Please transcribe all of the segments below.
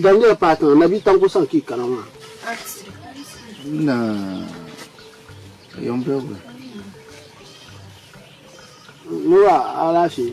Daniel paai tiŋa Nabi Tanko sani ka yi kana maa. Nura alaafee.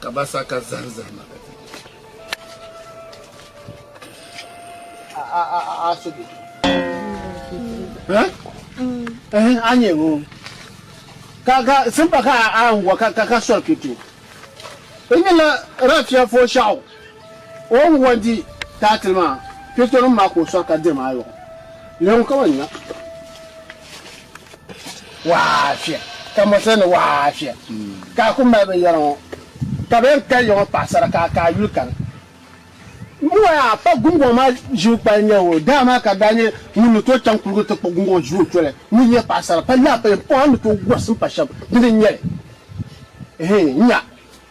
ka ba sa ka zahim zahima ka ti asibi a nyɛ ŋɔ ka ka simpa ka a n wa ka ka sɔri kito n nyɛla rafiya fo shɛɣu O ni bɔri di taatili maa, Piritɔnim maa ka o sɔri ka diri ma ayɔbu. Lɛm ŋun ka ma nya. Waafia, ka mɔri ti ni waafia, ka a ku mali binyɛra ŋɔ, ka bɛ yɛn kali ya ŋɔ paɣisara ka a ka a yuli kani. Ŋumbɔŋɔ yaa, pa guŋgɔŋ maa ʒibu kpali n-nyɛ o. Dama maa ka daa nyɛ ŋun ni tooi chaŋ kuligu nti kpuɣi guŋgɔŋ ʒi o toli, ŋun nyɛ paɣisara, pa laapayim pɔŋ a ni tooi gɔrisi m-pa shɛba dini n-nyɛ li. Ehe! Nya!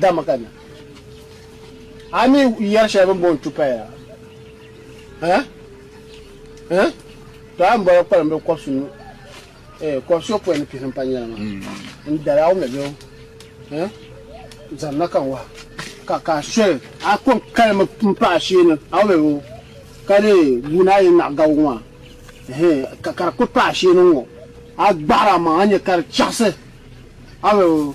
Dama ka na. A mi yɛri shɛli bini booni tupaya ha? Ha? To a ni bɔra kpalim bɛ kɔbisi nu eh, kɔbisi o pɔi ni pihi ni pa nyɛla maa. Mm. N dali a wumla bɛ ha? Zaŋ na ka n waha. Ka ka soli a ko n kali mi m pa a shee ni a wumla bɛ ka di guuni a yɛn naɣi gabigu maa. Ehe, ka ka di kuli pa a shee ni ŋɔ. A gbahiri a maŋa a nyɛ ka di chaɣisi a wumla bɛ.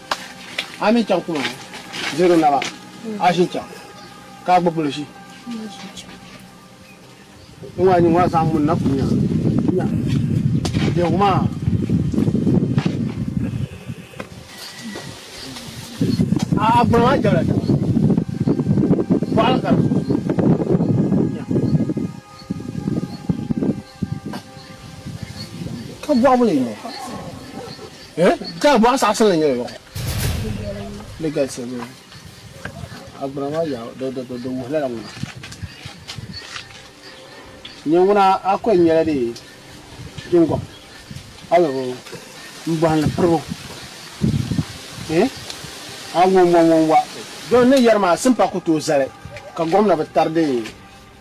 A mi chaŋ kuma zero naba a ʒin chaŋ ka a gba bolo ʒi n ŋɔ a nyin ŋɔ a zaŋ mun na kunya nya biɛgu maa a a gbɔna maa jɛbla taba bɔɣili ka di Ka bɔɣu ni yino. Eh? Ka bɔɣu saɣasin ni nyɛla yɔɣu. Di galisi mi. Agbana maa yaa di wuhi lala ŋuna. Nyɛ ŋuna a kuli nyɛla di jingɔm a ni bi n bɔhim ni piribu. Eh? A ŋɔnbɔŋɔnba. Dɔn ni yɛri maa simpa ku tooi zali ka gomna bi tari di